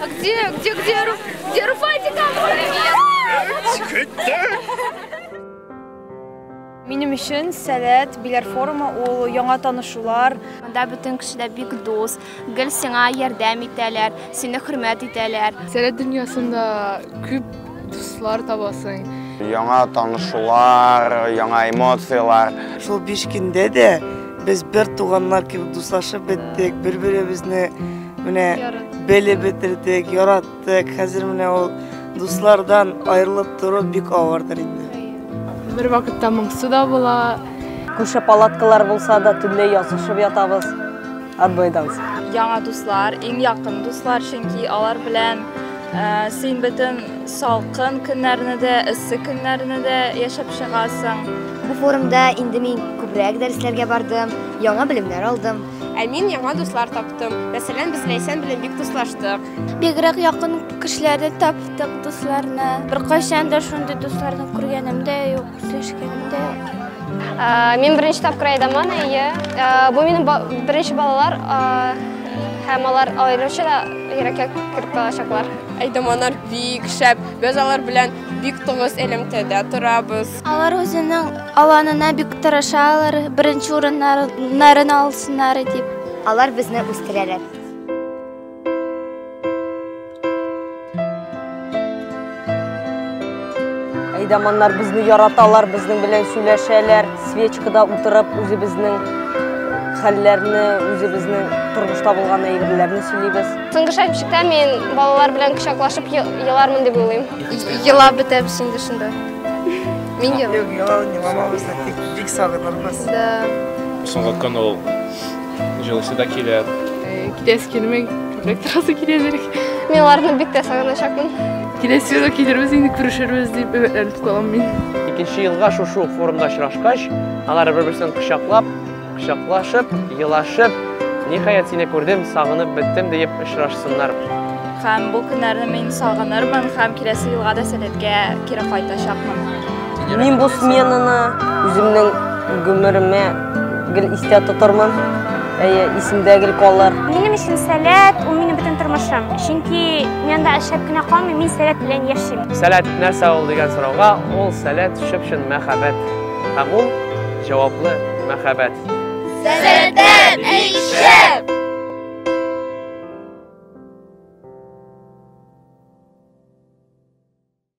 А где, где, где, где Руфатик? Минем өчен сәләт, биләр форумы ул яңа танышулар. Монда бөтен кеше дә бик дус. Гел сиңа ярдәм итәләр, сине хөрмәт итәләр. Сәләт дөньясында күп дуслар табасың. Яңа танышулар, яңа эмоцияләр. Шул биш көндә дә без бер туганнар кебек дуслашып беттек, бер-беребезне менә белеп бетердек, яраттык. Тек хәзер менә ул дуслардан аерылып тору бик авырдыр инде. Бер вакытта моңсу да була. Күрше палаткалар булса да төнлә язышып ятабыз. Однойдан соң. Яңа дуслар, иң якын дуслар, чөнки алар белән э, син бөтен салкын көннәрне дә, эссе көннәрне дә яшәп чыгасың. Бу форумда инде мин күбрәк дәресләргә бардым, яңа белемнәр алдым. Ә мин яңа дуслар таптым. Мәсәлән, без Ләйсән белән бик дуслаштык. Бигрәк якын кешеләрне таптык, дусларны. Беркайчан да шундый дусларны күргәнем дә юк, сөешкәнем дә юк. Мин беренче тапкыр Айдаман, әйе. Бу минем беренче балалар һәм алар аеруча да йөрәккә кереп калачаклар. Айдаманнар бик шәп. Без алар белән бик тыгыз элемтәдә торабыз. Алар үзенең аланына бик тырышалар, беренче урыннарын алсыннар дип. Алар безне үстерәләр. Әйдаманнар безне яраталар, безнең белән сөйләшәләр, свечкада утырып, үзебезнең хәлләрне, үзебезнең тормышта булган әйберләрне сөйлибез. Соңгы шәмчектә мин балалар белән кочаклашып елармын дип уйлыйм. Елап бетәбез инде шунда. Мин елап. Юк, елап, мамабызны бик сагынырбыз. Да. Соңга канал Җылысы да килә. Китәсе килмәй, күбрәк торасы килә бирек. Мин аларны бик тә сагыначакмын. Киләсе елда килербез, инде күрешербез дип өметләнеп калам мин. Икенче елга шушы ук форумда очрашкач, алар бер-берсен кочаклап, кочаклашып, елашып, ниһаять сине күрдем, сагынып беттем диеп очрашсыннар. Һәм бу көннәрне мин сагынырмын һәм киләсе елга да сәләткә кире кайтачакмын. Мин бу сменаны үземнең гомеремә Гел истә тотырмын, әйе, исемдә гел калыр. Минем өчен сәләт, ул минем бөтен тормышым. Чөнки мин анда эшләп кенә калмыйм, мин сәләт белән яшим. Сәләт нәрсә ул дигән сорауга, ул сәләт чып-чын мәхәббәт. Һәм ул җаваплы мәхәббәт. Сәләттә бик шәп!